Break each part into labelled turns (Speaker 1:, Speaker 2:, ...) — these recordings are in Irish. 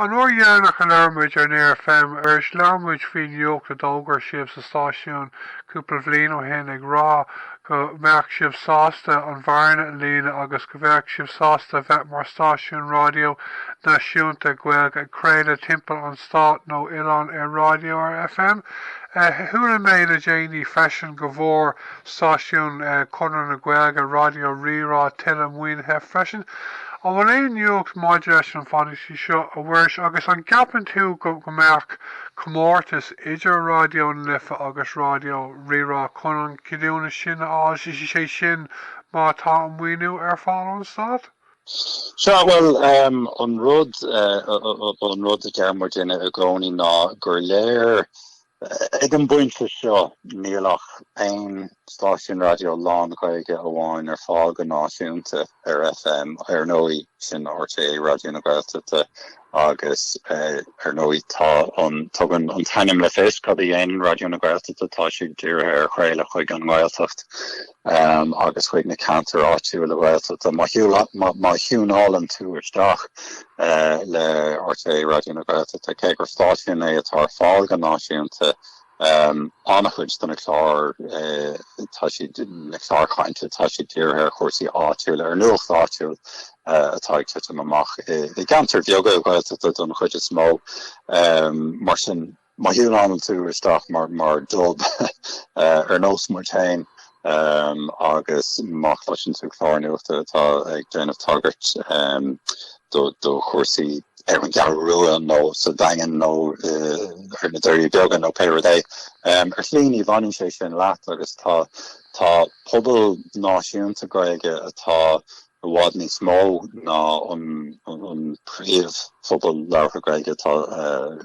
Speaker 1: An uair dheireanach a labhair muid ar Near FM arís labhair muid faoin nuacht a d'fhógair sibh sa stáisiún cúpla bhliain ó shin ag rá go mbeadh sibh sásta an bhearna a líonadh agus go bheadh sibh sásta a bheith mar stáisiún raidió náisiúnta Gaeilge ag craoladh timpeall an stáit nó oileáin ar raidió ar FM. Chuala mé le déanaí freisin go bhfuair stáisiún Chonradh na Gaeilge, Raidió Rí-Rá, tuilleadh maoinithe freisin. An bhfuil aon nuacht maidir leis an bhfianaise seo, a Mhuiris, agus an gceapann tú go mbeadh comórtas idir Raidió na Life agus Raidió Rí-Rá chun an ceadúnas sin a fháil, sé sin má tá an maoiniú ar fáil ón Stát? Sea,
Speaker 2: bhuel, an rud a deir muidinne i gcónaí ná gur léir, Ag an bpointe seo níl ach aon stáisiún raidió lán-Ghaeilge amháin ar fáil go náisiúnta ar FM, ar ndóigh, sin RTÉ Raidió na Gaeltachta agus ar ndóigh tá an, tugann an t-ainm le fios cad a dhéanann Raidió na Gaeltachta, tá siad dírithe ar chraoladh chuig an nGaeltacht. agus chuig na ceantair áitiúla Ghaeltachta. Má thiúnálann tú isteach le RTÉ Raidió na Gaeltachta, cé gur stáisiún é atá ar fáil go náisiúnta, an-chuid de na cláir, tá siad, na cláir cainte, tá siad dírithe ar chúrsaí áitiúla, ar nuacht áitiúil atá ag titim amach i gceantair bheaga Ghaeltachta don chuid is mó. Mar sin, Má thiúnálann tú isteach mar Dub, ar nós muid féin, agus má chloiseann tú clár nuachta atá ag déanamh tagairt do chúrsaí ar an gCeathrú Rua nó sa Daingean nó ar na Doirí Beaga nó pé rud é, ar shlí ní bhaineann sé sin leat agus tá pobal náisiúnta Gaeilge atá i bhfad níos mó ná an príomhphobal labhartha Gaeilge atá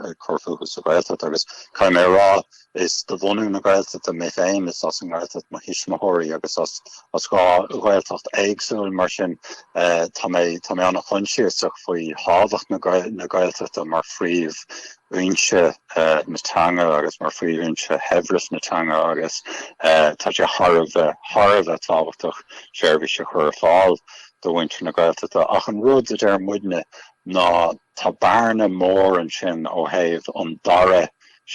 Speaker 2: ag cur fúthu sa Ghaeltacht, agus caithfidh mé a rá, is de bhunú na Gaeltachta mé féin, is as an nGaeltacht mo thuismitheoirí, agus as dhá Ghaeltacht éagsúil, mar sin tá mé an-choinsiasach faoi thábhacht na Gaeltachta mar phríomh fhoinse na teanga agus mar phríomhfhoinse shaibhreas na teanga agus tá sé thar a bheith, thar a bheith tábhachtach seirbhís a chur ar fáil do mhuintir na Gaeltachta ach an rud a deir muidne ná tá bearna mór ansin ó thaobh an dara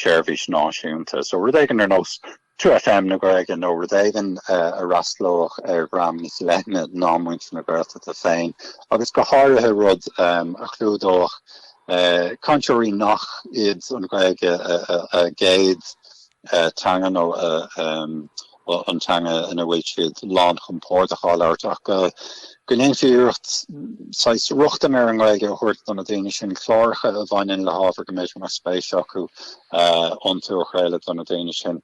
Speaker 2: seirbhís náisiúnta so rud éigin ar nós 2FM na Gaeilge nó rud éigin a fhreastalódh ar dhream níos leithne ná muintir na Gaeltachta féin agus go háirithe rud a chlúdódh cainteoirí nach iad an Ghaeilge a gcéad teanga nó an teanga ina bhfuil siad lánchompordach á labhairt ach go go ndéanfaí iarracht saghas rochtain ar an nGaeilge a thabhairt do na daoine sin, cláracha a bhaineann le hábhar go mb'fhéidir mór spéis acu iontu a chraoladh do na daoine sin,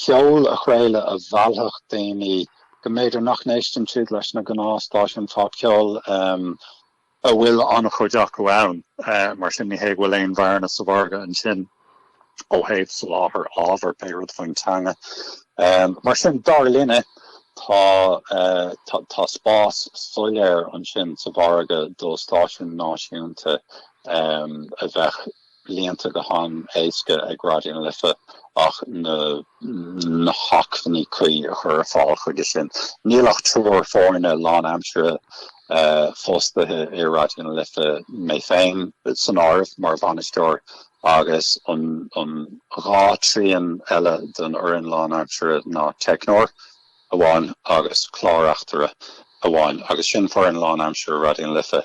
Speaker 2: ceol a chraoladh a mheallfadh daoine, go mb'fhéidir nach n-éisteann siad leis na gnáthstáisiúin phopcheoil a bhfuil an-chuid acu ann. Mar sin, ní hé go bhfuil aon bhearna sa mhargadh ansin. ó thaobh soláthar ábhar, pé rud faoin teanga. Mar sin, dar linne, tá spás soiléir ansin sa mhargadh do stáisiún náisiúnta a bheadh líonta go han-éasca ag Raidió na Life ach na hacmhainní cuí a chur ar fáil chuige sin. Níl ach triúr foirne lánaimsire fostaithe i Raidió na Life, mé féin san áireamh mar bhainisteoir, agus an dhá thrian eile den fhoireann lánaimsire ná teicneoir amháin agus clár-reachtaire amháin, agus sin foireann lánaimsire Raidió na Life.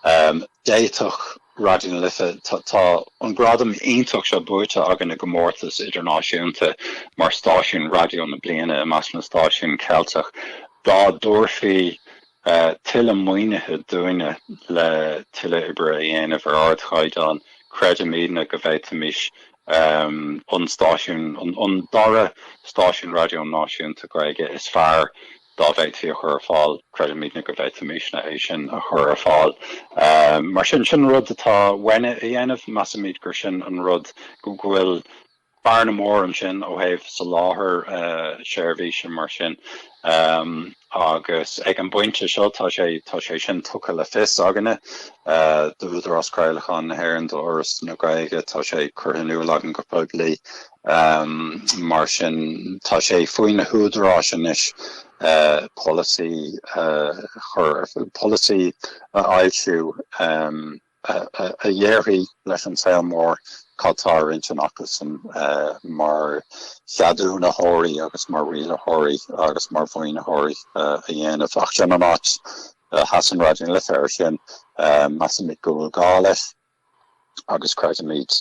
Speaker 2: D'fhéadfadh Raidió na Life, tá an gradam iontach seo buaite againn i gcomórtas idirnáisiúnta mar stáisiún raidió na bliana i measc na stáisiún Ceilteach, dá dtabharfaí tuilleadh maoinithe dúinne le tuilleadh oibre a dhéanamh ar ardchaighdeán, creidimidne go bhféadfaimis an stáisiún, an dara stáisiún raidió náisiúnta Gaeilge is fearr dá bhféadfaí a chur ar fáil, creidimidne go bhféadfaimisne é sin a chur ar fáil. Mar sin, sin rud atá uainne a dhéanamh. Measaimid gur sin an rud go bhfuil bearna mór ansin ó thaobh soláthar seirbhíse mar sin agus ag an bpointe seo tá sé tá sé sin tugtha le fios againne d'Údarás Craolacháin na hÉireann, d'Fhoras na Gaeilge, tá sé curtha in iúl againn go poiblí mar sin tá sé faoi na húdaráis anois polasaí a chur ar polasaí a fhoilsiú. a dhéarfaidh leis an saol mór cad tá ar intinn acusan mar cheadúnaitheoirí agus mar rialaitheoirí agus mar mhaoinitheoirí a dhéanamh. Ach sin an áit a sheasann Raidió na Life air sin. Measaimid go bhfuil gá leis agus creidimid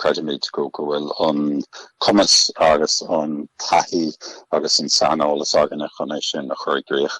Speaker 2: creidimid go go bhfuil an cumas agus an taithí agus an saineolas againne chun é sin a chur i gcrích.